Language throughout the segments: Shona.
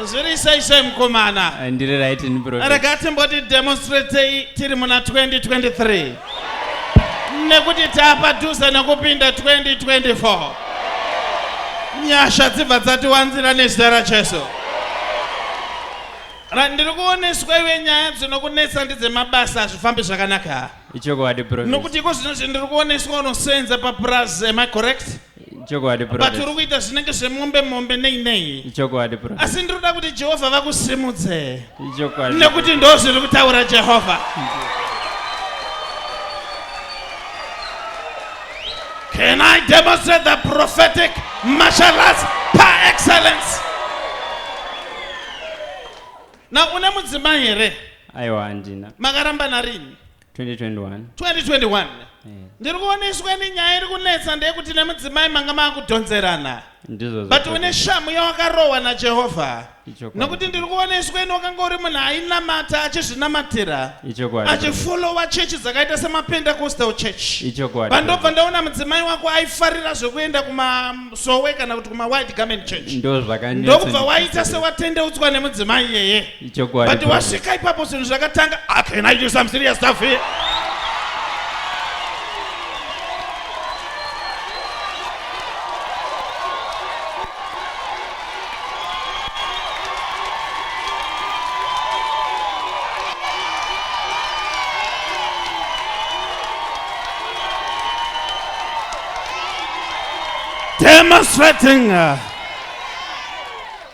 zviri sei sei mukomana Eh, ndiri right ini profet rega timboti demonstratei tiri muna 2023 nekuti taapadhuze nekupinda 2024 nyasha dzibva dzatiwanzira nezita rajesu Ra- ndiri kuoneswa iwe nyaya dzinokunetsa ndidzemabasa hazvifambi zvakanaka ichokwadi profet nokuti iko zvino zvindiri kuoneswa unosenza papurazi am i correct chokwadi but prophet uri kuita zvinenge zvemombe mombe nei nei chokwadi prophet asi ndiri kuda kuti jehovha vakusimudze chokwadi nekuti ndo zviri kutaura jehovha can i demonstrate the prophetic martial arts par excellence na une mudzimai here aiwa handina makarambana rini 2021 ndiri kuona isweni nyaya iri kunetsa ndeyekuti nemudzimai manga maakudhonzerana but une shamu yawakarohwa najehovha nokuti ndiri kuona isweni wakanga uri munhu ainamata achizvinamatira achifolowa chechi dzakaita semapentecostal church pandobva ndaona mudzimai wako aifarira zvekuenda kumasowe kana kuti kumawide garment church ndokubva waita sewatendeutswa nemudzimai iyeye Ichokwadi. But wasvika ipapo zvinhu zvakatanga. Ah, can I do some serious stuff here? Demonstrating. Uh,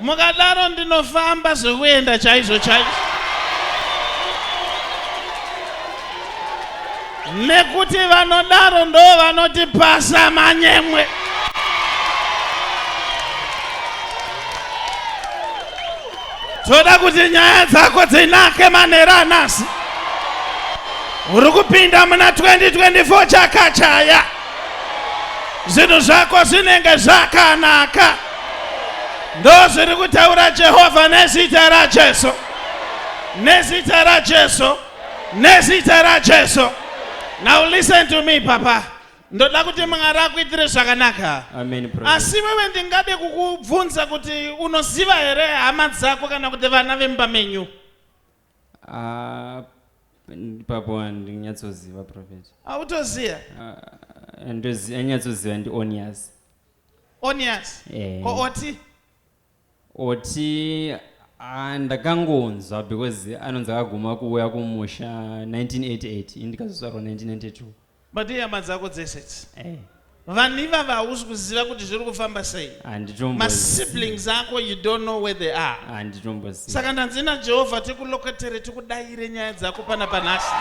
Mukadaro ndinofamba zvekuenda chaizvo chaizvo. Nekuti vanodaro ndo vanoti pasa manyemwe. Toda kuti nyaya dzako dzinake manera anasi. Uri kupinda muna 2024 chakachaya. zvinhu zvako zvinenge zvakanaka ndozviri kutaura jehovha nezita rajesu nezita rajesu nezita rajesu now listen to me papa ndoda kuti mwari akuitire zvakanaka asi wewe ndingade kukubvunza kuti unoziva here hama dzako kana kuti vana vemba menyu Ah, ipapo handinyatsoziva prophet Autoziva? Ah, ndozi- anyatsoziva ndi onias Onias. Eh. Ko oti? oti ah, ndakangonzwa because anonzi akaguma kuuya kumusha 1988 ini ndikazozvarwa 1992 But ihama dzako dzese idzi. Hey. Vanhu ivava hausi kuziva kuti zviri kufamba sei. Masiblings ako you don't know where they are. Handitomboziva. Saka ndanzi naJehovha tikuloketere tikudayire nyaya dzako pana panhasi.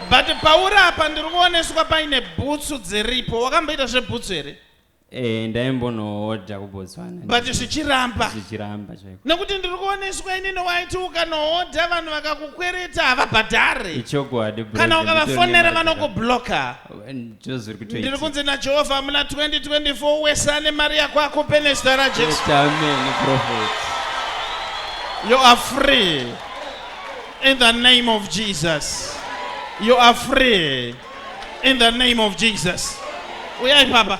But pauri apa ndiri kuoneswa paine bhutsu dziripo. Wakamboita zvebhutsu here? Eh, ndaimbonohodha kubotswana but zvichiramba zvichiramba chaiko nekuti ndiri kuoneswa inini waiti ukanohodha vanhu vakakukwereta havabhadhare ichokwadi bro, kana ndiri ukavafonera kutoona mari vanokubloka dzaka- Ndizvo zviri ndiri kutoitika. kunzi najehovha muna 2024 wese ane mari yako akupe nezita rajesu Yes, amen, prophet. you are free in the name of jesus you are free in the name of jesus uyai papa